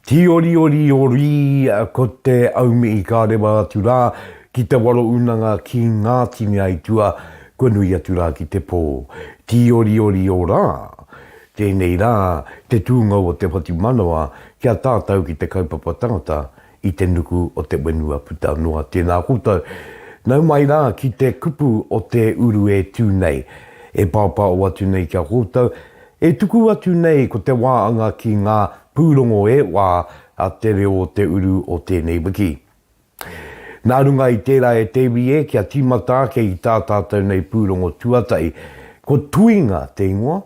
Tiorioriori ko te aumi i ka rewa atu rā ki te waro unanga ki ngā tini aitua kua nui atu rā ki te pō. Tiorioriō rā, tēnei rā te tūngou o te whatumanawa ki a tātau ki te kaupapa tangata, i te nuku o te whenua puta noa. Tēnā koutou. Nau mai rā ki te kupu o te uru e tū nei, e pāpāo atu nei ki a koutou, e tuku atu nei ko te wā anga ki ngā pūrongo e wā a te reo o te uru o tēnei wiki. Nā runga i tērā e te iwi e, kia tīmata ake i tā tātou nei pūrongo tuatahi, ko Tuinga te ingoa,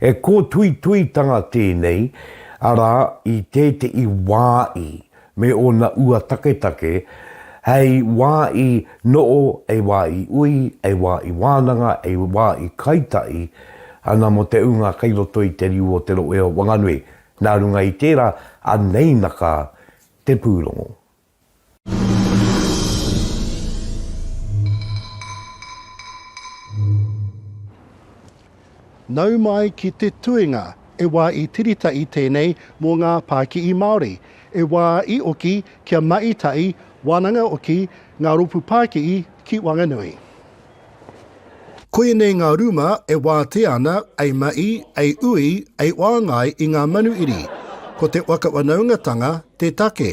He kōtuituitanga tēnei, arā, i tētehi wā i, me ōna ua taketake, hei wā i noʻo, hei wā i ui, hei wā i wānanga, hei wā i kaitaʻi ana mō te ūnga kei roto i te riu o Te Rohe o Wanganui. Nā runga i tērā, anei na ka te pūrongo. Nau mai ki te tuinga e wā i tirita i tēnei mō ngā pākihi Māori, e wā i oki kia mahi tahi wānanga oki ngā rōpū pākihi ki Wanganui. Koianei ngā rūma e wātea ana ei mahi, ei ui, ei whāngai i ngā manuiri. Ko te whakawhanaungatanga te take.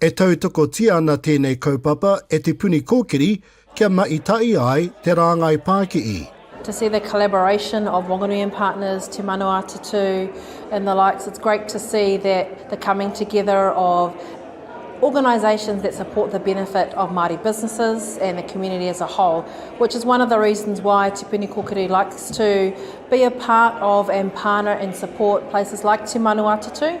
E tautokotia ana tēnei kaupapa e Te Puni Kōkiri kia mahi tahi ai te rāngai pākihi. To see the collaboration of Wanganui and partners, Te Manawatutū and the likes, it's great to see that the coming together of organisations that support the benefit of Māori businesses and the community as a whole, which is one of the reasons why Te Puni Kōkiri likes to be a part of and partner and support places like Te Manawatutū.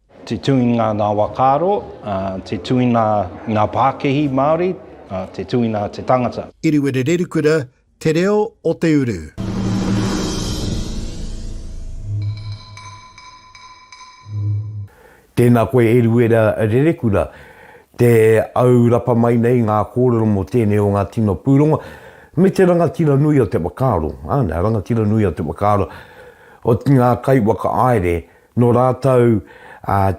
Te tuinga ngā whakaaro, te tuina ngā pākehi Māori, te tuina te tangata. Iriwere Rerikura, Te Reo o te Uru. Tēnā koe Iriwera Rerekura, te au rapa mai nei ngā kōrero mō tēnei o ngā tino pūrongo, me te rangatira nui o te whakaaro, āna, rangatira nui o te whakaaro, o ngā kaiwhakaāere Nō rātou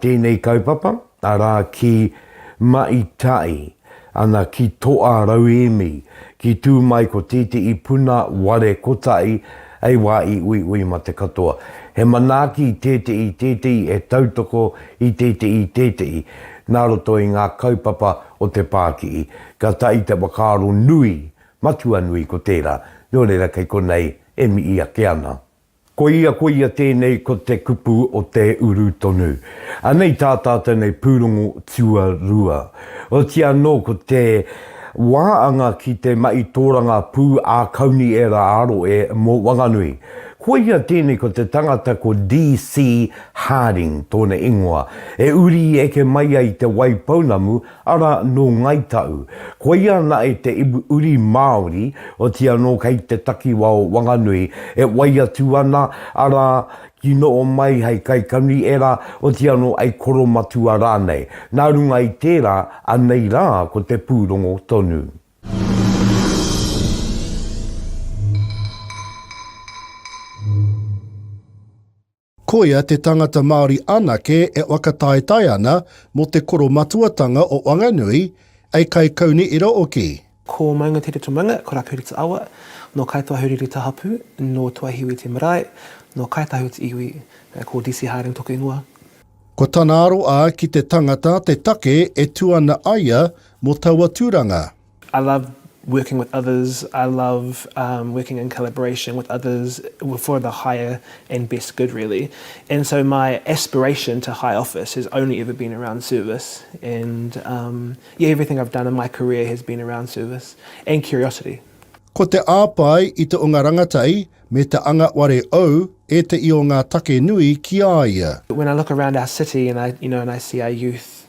tēnei kaupapa, arā ki Maitai, ana ki Toa Rauemi, ki tū mai ko tētehi puna ware kotahi hei wā i uiui mate katoa. He manaaki tētehi tētehi e tautoko i tētehi tētehi nā roto i ngā kaupapa o te pākihi. Ka tahi te whakaaro nui, matua nui ko tērā, nō reira kei konei e mihi ake ana. Koia, koia tēnei ko te kupu o te uru tonu. Anei tā tātou nei pūrongo tuarua. Oti anō ko te wā anga ki te mahi tōrangā pū ā kauni e rā aro e mō Wanganui. Koia tēnei ko te tangata ko DC. Harding tōna ingoa. E uri i eke mai ai te Waipounamu Ara nō Ngāi Tahu. Koia nae te iwi uri Māori, oti anō kei te takiwa o Wanganui, e wai atu ana, ara, ki noo mai hei kaikanui era, oti anō hei koromatua rānei. Nā runga i tērā, anei rā ko te pūrongo tonu. Koia te tangata Māori anake e whakataetae ana mō te koromatuatanga o Wanganui, ei kaikauni ira oki. Ko Maunga Tere Tomanga, ko Rapu Rita Awa, nō Kāi Toahuri Rita Hapu, nō Tuahiwi Te Marae, nō Kāi Tahu Te Iwi, ko DC Harding toku ingoa. Ko tana aroa ki te tangata te take e tu ana aia mō taua turanga. I love working with others, I love working in collaboration with others for the higher and best good really and so my aspiration to high office has only ever been around service and yeah everything I've done in my career has been around service and curiosity. Ko te āpae i te onga rangatei me te anga ware ou etahi o ngā take nui ki a ia. When I look around our city and I you know and I see our youth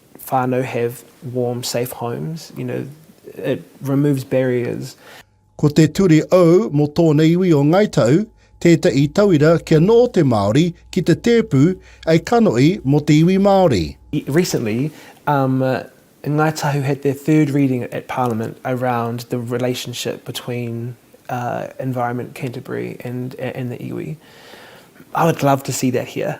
whānau have warm, safe homes, you know, it removes barriers. Ko te turi ou mo tōna iwi o Ngai Tahu tētahi tauira kia noho te Māori ki te tēpu ei kanohi mo te iwi Māori. Recently, um, Ngai Tahu had their third reading at Parliament around the relationship between uh, Environment Canterbury and, and the iwi. I would love to see that here.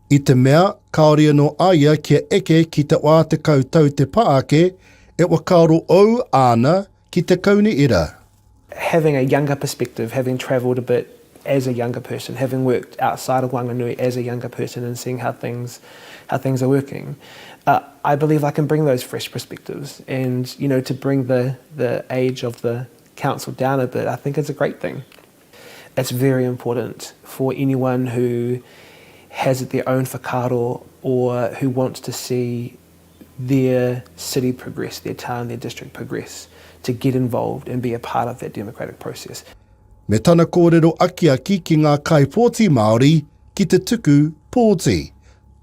I te mea, kāore anō a ia kia eke ki te wā tekau tau te pā ake, e whakaaro ou āna ki te kauni ira. Having a younger perspective, having travelled a bit as a younger person, having worked outside of Wanganui as a younger person and seeing how things how things are working, I believe I can bring those fresh perspectives and you know to bring the the age of the council down a bit I think is a great thing. It's very important for anyone who has their own whakaaro or who wants to see their city progress, their town, their district progress to get involved and be a part of that democratic process. Me tana kōrero akiaki ki ngā kaipōti Māori ki te tuku pōti,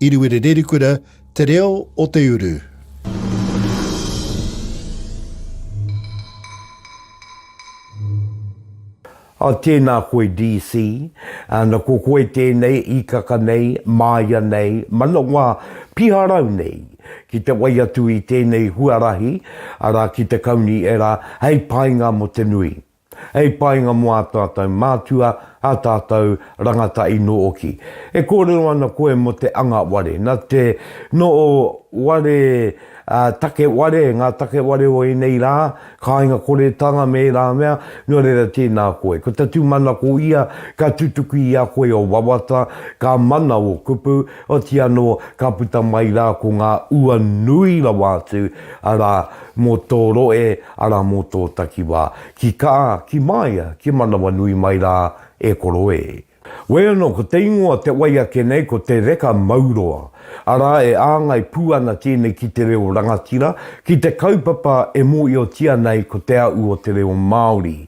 Iriwiri Rerikura, Te Reo o te Uru. Oh tēnā koe DC. Ana ko koe tēnei ikaka nei, māia nei, manawa piharau nei ki te wai atu i tēnei huarahi, arā ki te kauni era hei painga mo te nui. Hei painga mo a tatou mātua, a tatou rangata ino oki. E kōrero ana koe mo te anga ware, na te noo ware, take ware, nga take ware o enei ra, kāinga koretanga me era mea, no reira tēnā koe. Ko ta tumanako ia ka tutuki i a koe o wawata, ka mana o kupu, Otiia anō, ka puta mai rā ko ngā ua nui rawa atu, arā, mō tō rohe, arā, mō tō takiwā. Ki kā, ki māia, ki manawanui mai rā, e koro ē. Wai anō, ko te ingoa te wai ake nei ko Te Reka Mauroa, arā, e āngai pū ana tēnei ki te reo rangatira, ki te kaupapa e mōhiotia nei ko Te Aʻu o te Reo Māori.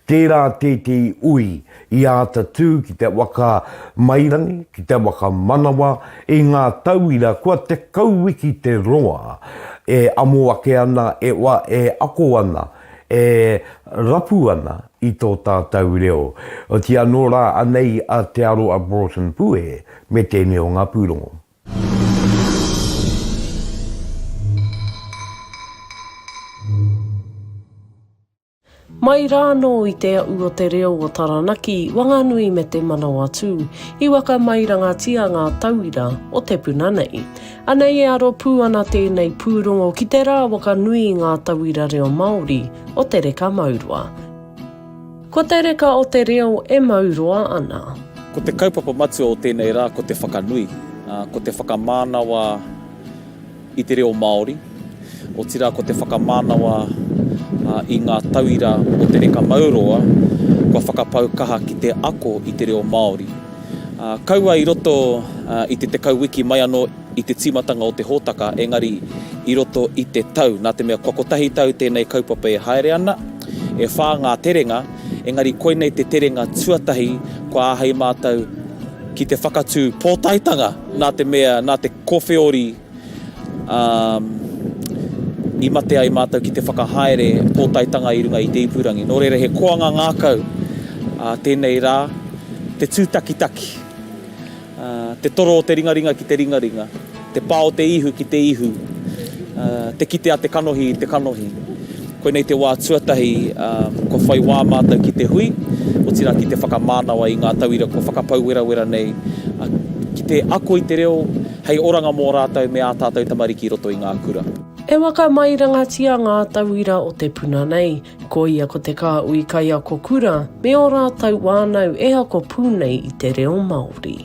Tērā tētehi ui I āta tū ki te whakamairangi, ki te whakamanawa i ngā tauira kua tekau wiki te roa e amo ake ana, e wa, e ako ana, e rapu ana i tō tātau reo. Otiia anō rā anei a Te Aro a Broughton Pue me tēnei o ngā pūrongo. Mai rānō i te aʻu o te reo o Taranaki, Wanganui me te Manawatū, i whakamairangatia ngā tauira o te puna nei. Anei e aro pū ana tēnei pūrongo ki te rawaka nui i ngā tauira reo Māori o te reka mauroa. Ko te reka o te reo e mauroa ana. Ko te kaupapa matua o tēnei rā ko te whakanui, ko te whakamānawa. i te reo Māori, otirā ko te whakamānawa i ngā tauira o Te Reka Mauroa kua whakapau kaha ki te ako i te reo Māori. Kaua i roto i te tekau wiki mai anō i te tīmatanga o te hōtaka, engari i roto i te tau, nā te mea kua kotahi tau tēnei kaupapa e haere ana, e whā ngā terenga, engari koinei te terenga tuatahi kua āhei mātou ki te whakatū pōtaetanga, nā te mea, nā te. Kowheori, ā, i mate ai mātou ki te whakahaere pōtaetanga i runga i te ipurangi. Nō reira, he koanga ngākau tēnei rā, te tūtakitaki, te toro o te ringaringa ki te ringaringa, te pā o te ihu ki te ihu, te kite a te kanohi i te kanohi. Koinei te wā tuatahi kua whai wā mātou ki te hui, otirā ki te whakamānawa i ngā tauira kua whakapau werawera nei, ki te ako i te reo hei oranga mō rātou me ā tātou tamariki i roto i ngā kura. E whakamairangatia ngā tauira o te puna nei, koia ko te Kāhui Kaiako Kura me ō rātou wānau e ako pū nei i te reo Māori.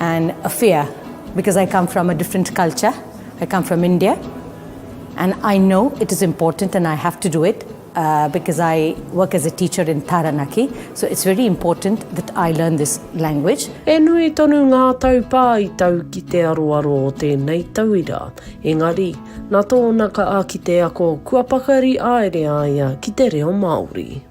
and a fear because I come from a different culture I come from India and I know it is important and I have to do it uh, because I work as a teacher in Taranaki so it's very important that I learn this language E nui tonu ngā taupā i tau ki te aroaro o tēnei tauira engari na tōna ka aki te ako kua pakari aere a ia ki te reo Māori.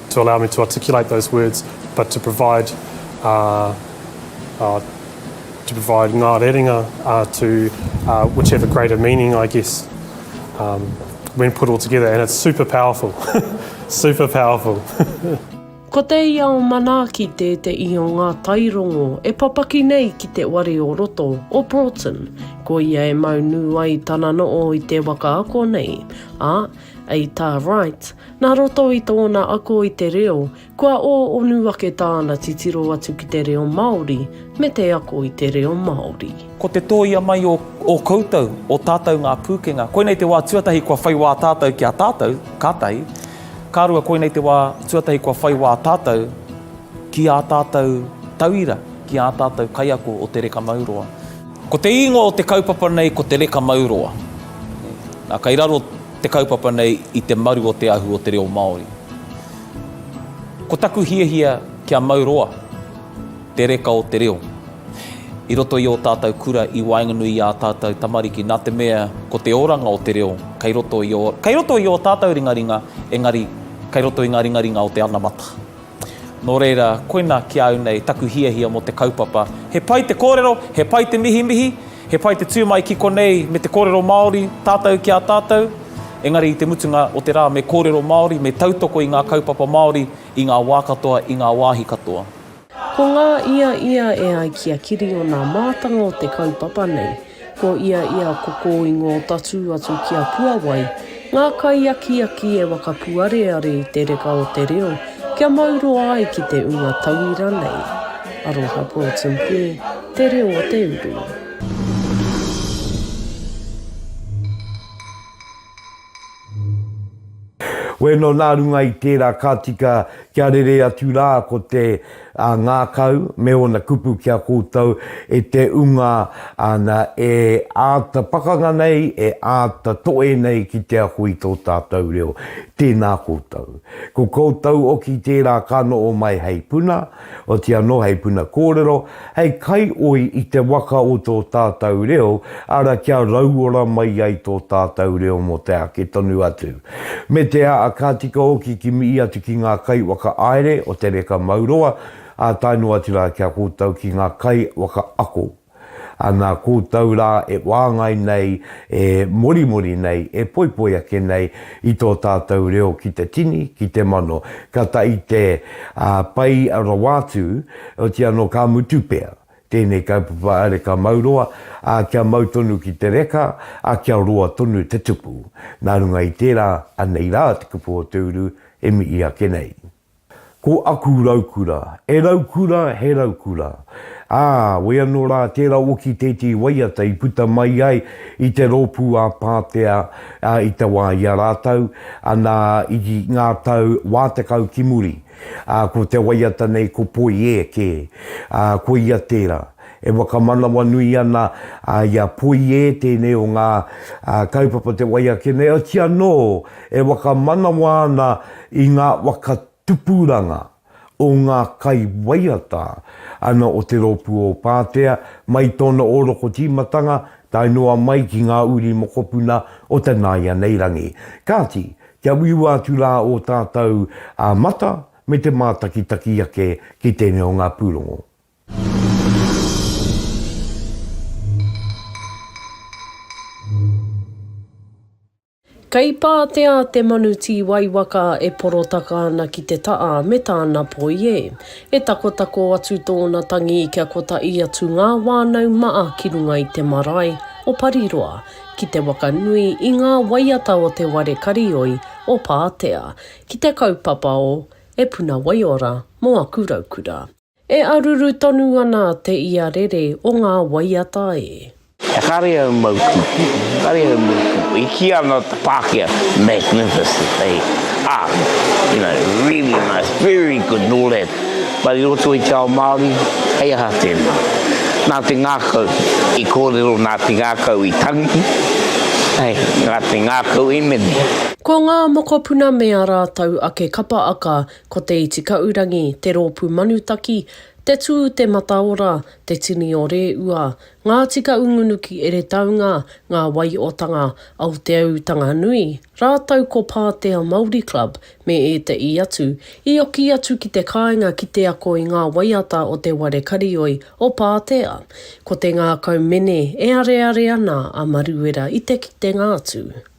to allow me to articulate those words, but to provide to provide ngā rerenga to which have a greater meaning, I guess, um, when put all together, and it's super powerful, super powerful. Ko te ia o Manaaki tēteʻi o ngā tairongo e papaki nei ki te ware o roto o Broughton, ko ia e maunu ai tana noo i te waka ako nei, a, A i tā Wright, nā roto i tōna ako i te reo, kua ō onu ake tāna titiro atu ki te reo Māori me te ako i te reo Māori. Ko te tōia mai o ō koutou, ō tātou ngā pūkenga, koinei te wā tuatahi kua whai wā tātou ki a tātou, ka tahi, ka rua koinei te wā tuatahi kua whai wā tātou ki ā tātou tauira, ki ā tātou kaiako o Te Reka Mauroa. Ko te ingoa o te kaupapa nei ko Te Reka Mauroa. Nā, kei raro te kaupapa nei i te maru o te ahu o te reo Māori. Ko taku hiahia kia mau roa te reka o te reo i roto i ō tātou kura i waenganui i ā tātou tamariki nā te mea ko te oranga o te reo kei roto i ō, kei roto i ō tātou ringaringa, engari kei roto i ngā ringaringa o te anamata. Nō reira, koina ki a au nei taku hiahia mō te kaupapa. He pai te kōrero, he pai te mihimihi, he pai te tū mai ki konei me te kōrero Māori, tātou ki a tātou, engari i te mutunga o te rā me kōrero Māori, me tautoko i ngā kaupapa Māori i ngā wā katoa, i ngā wāhi katoa. Ko ngā ia ia e ai ki a Kiri o nā mātanga o te kaupapa nei. Ko ia i a koko i ngō tatū atu ki a Puawai, ngā kaiakiaki e wakapuareare i te reka o te reo kia mauroa ai ki te ua tauira nei. Aroha Broughton Pē, Te Reo o te Uru. Weno nā runga i tērā ka tika kia rere atu rā ko te ngākau me ōna kupu ki a koutou e te unga ana e āta pakanga nei, e āta toe nei ki te ako i tō tātou reo. Tēnā koutou. Ko koutou oki tērā ka noho mai hei puna, Oti anō hei puna kōrero, hei kaioi i te waka o tō tātau reo, ara kia rauora mai ai tō tātau reo mō te ake tonu atu. Me te aa ka tika oki kimi i atu ki ngā kai waka aere o te reka mauroa, aa tae noa atu rā kia kōtau ki ngā kai waka ako. Ana koutou rā e wāngai nei, e morimori nei, e poipoi ake nei i tō tātou reo ki te tini, ki te mano, ka tahi te pai rawa atu, oti anō ka mutu pea tēnei kaupapa a Reka Mauroa, ā, kia mau tonu ki te reka, ā, kia roa tonu te tupu. Nā runga i tērā, anei rā te kupu o te uru e mihi ake nei. Ko aku raukura, e raukura, he raukura. Ā, wē anō rā tērā oki tētehi waiata i puta mai ai i te rōpū a Pātea i te wā i a rātou, anā, i ngā tau wā tekau ki muri. Ā, ko te waiata nei ko Poiē kē. Ā, ko ia tērā. E whakamanawanui ana i a Poiē tēnei o ngā kaupapa o te wai ake nei, otirā anō e whakamanawa ana i ngā waka tupuranga o ngā kaiwaiata ana o Te Rōpū o Pātea mai i tōna ōrokotīmatanga tae noa mai ki ngā uri mokopuna o te nāianei rangi. Kāti, kia uiua atu rā ō tātou mata me te mātakitaki ake ki tēnei o ngā pūrongo. Kei Pātea te manu tī waiwaka e porotaka ana ki te taa me tāna poi e. E takotako atu tōna tangi kia kotaʻi atu ngā wānau maa ki runga i te marae o Pariroa ki te waka nui i ngā waiata o te ware karioi o Pātea ki te kaupapa o E Puna Waiora mo aku raukura. E aruru tonu ana te ia rere o ngā waiata e. He kare au mau kupu, kare au mau kupu. I kīa ana te Pākehā, magnificent, hei, art, you know, really nice, very good, and all that. But i roto i te ao Māori, hei aha tēnā? Nā te ngākau i kōrero, nā te ngākau i tangi, hei, nā te ngākau i mene. Ko ngā mokopuna me ā rātou ake kapa aka Ko Te Itikaurangi, Te Rōpū Manutaki, Te Tū Te Mataora, Te Tini o Rēua, Ngā Tika Ungunuki Eretaunga, Ngā Waiotanga, Aoteaūtanga Nui, rātou ko Pātea Māori Club me ētahi atu, i oki atu ki te kāinga ki te ako i ngā waiata o te ware karioi o Pātea. Ko te ngākau mene e areare ana a Maruera i te kitenga atu.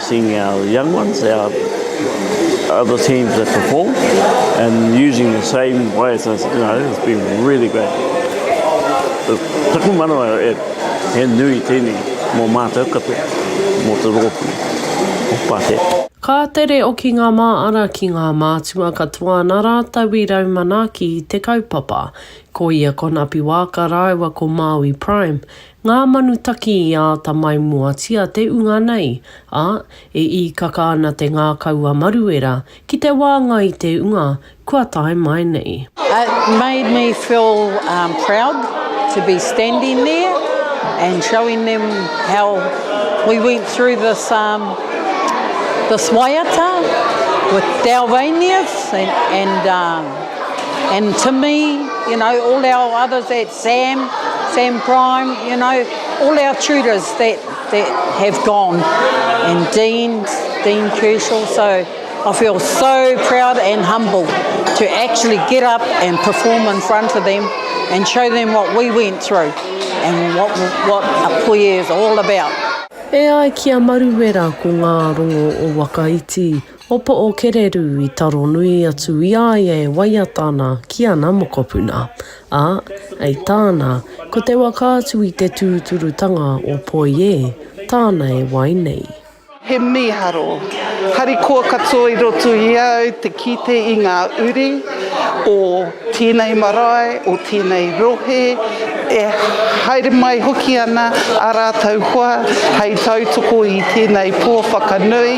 Seeing our young ones, our other teams that perform and using the same way as us, you know, it's been really great. Taku manawa e, he nui tēnei mō mātou katoa, mō te rōpū o Pātea. Ka tere oki ngā māara ki ngā mātua katoa nā rātou i rau manaaki i te kaupapa. Ko ia ko Napi Waaka rāua ko Māui Prime, Ngā manu taki i āta maimuatia te unga nei, ā, e īkaka ana te ngākau a Maruera ki te wāngai i te unga kua tae mai nei. It made me feel proud to be standing there and showing them how we went through this this waiata with our reindeers and and to me, you know, all our others at. Sam, Sam Prime, you know, all our tutors that, that have gone, and Dean, Dean Kershaw, so I feel so proud and humble to actually get up and perform in front of them and show them what we went through and what, what a puie is all about. E ai ki a Maruwera ko ngā rongo o Wakaiti O Pookererū i taro nui atu i a ia e waiata ana ki ana mokopuna, ā, hei tāna, ko te waka atu i te tūturutanga o Poiē tāna e wai nei. He mīharo harikoa katoa i roto i a au te kite i ngā uri o. Tēnei marae o tēnei rohe e haere mai hoki ana ā rātou hoa hei tautoko i tēnei pō whakanui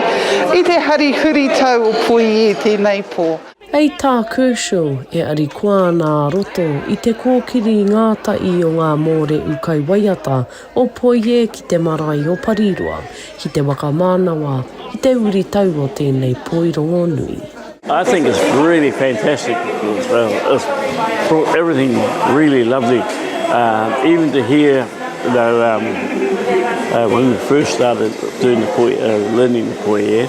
i te hari huritau o Puiī tēnei pō. Hei tā Kershaw, e arikoa ana ā-roto i te kōkiri ngātahi o ngā mōrehu kaiwaiata O Poie ki te marae o Pariroa, ki te whakamānawa i te uri tau o tēnei poi rongonui. I think it's really fantastic everything really lovely even to hear when we first started doing the poi, learning the poi, yeah.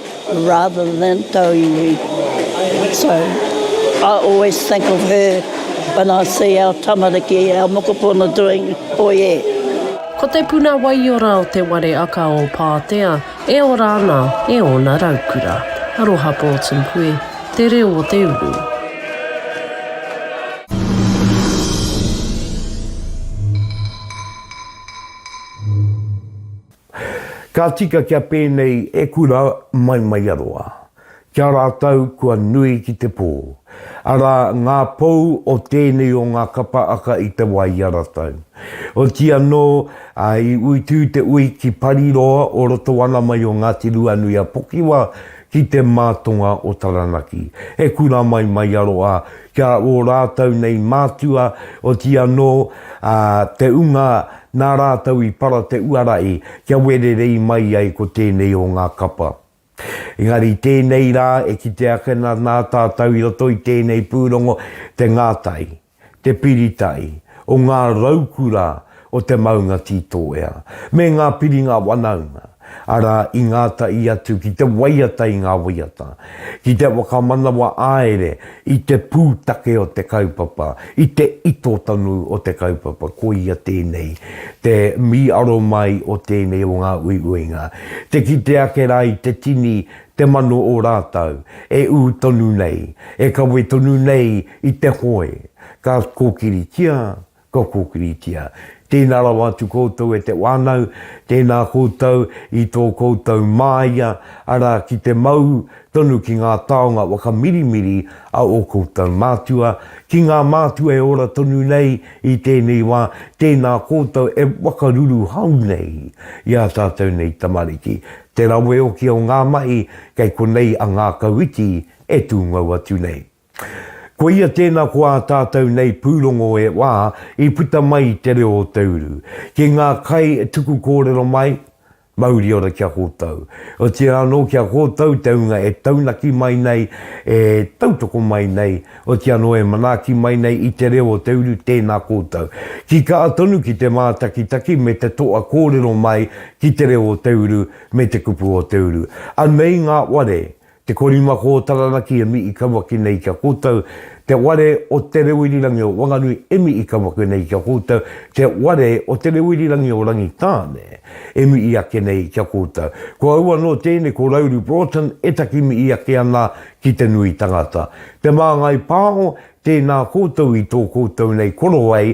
rather than tau iwi so I always think of her when I see our tamariki, our mokopuna doing oiē. Ko te puna waiora o Te Ware Aka o Pātea e ora ana e ōna raukura. Aroha Pōtūhue, te reo o te uru. Ka tika kia pēnei e kura mai Maiaroa. Kia rātou kua nui ki te pō. Arā ngā pou o tēnei o ngā kapa aka i te wā i a ratou. Oti anō, i uitū te ui ki Pariroa o roto ana mai o Ngāti Ruanui-a-Pokiwa ki te mātonga o Taranaki. He kura mai Maiaroa Kia ō rātou nei mātua, oti anō, ā, te unga nā rātou i para te uara i, kia wererei mai ai ko tēnei o ngā kapa. Engari tēnei rā e kite ake na nā tātou i roto i tēnei pūrongo te ngātai, te piritai, o ngā raukura o te maunga ki tō ea, me ngā piringa wanaunga, arā, i ngātahi atu ki te waiata i ngā waiata, ki te whakamanawa āere i te pūtake o te kaupapa, i te ito tonu o te kaupapa, koia tēnei te mīaro mai o tēnei o ngā uiuinga, te kite ake rā i te tini te mano o rātou, e ū tonu nei, e kawe tonu nei i te hoe, ka kōkiritia, Kua kōkiritia. Tēnā rawa atu koutou e te wānau, tēnā koutou i tō koutou māia, arā, ki te mau tonu ki ngā taonga whakamirimiri a ō koutou mātua, ki ngā mātua e ora tonu nei i tēnei wā, tēnā koutou e whakaruruhau nei i ā tātou nei tamariki. Te rawe oki o ngā mahi kei konei a ngākau iti e tūngou atu nei. Koia tēnā ko ā tātou nei pūrongo e wā i puta mai i te reo o te uru. Ki ngā kai tuku kōrero mai, mauri ora ki a kōtou. Otirā anō ki a kōtou te ūnga e taunaki mai nei, e tautoko mai nei, oti anō e manaaki mai nei i te reo o te uru tēnā kōtou. Ki kaha tonu ki te mātakitaki me te toa kōrero mai ki te reo o te uru me te kupu o te uru. Anei ngā ware Te Korima Ko Taranaki e mii kaua ki nei ki a koutou Te ware o Te Reo Irirangi o Wanganui e mii kaua ki nei ki a koutou Te ware o Te Reo Irirangi o Rangitāne e mii ake nei ki a koutou Ko au anō tēnei ko Rauru Broughton e takimii ake ana ki te nui tangata Te Māngai Pāho Tēnā koutou i tō koutou nei korowai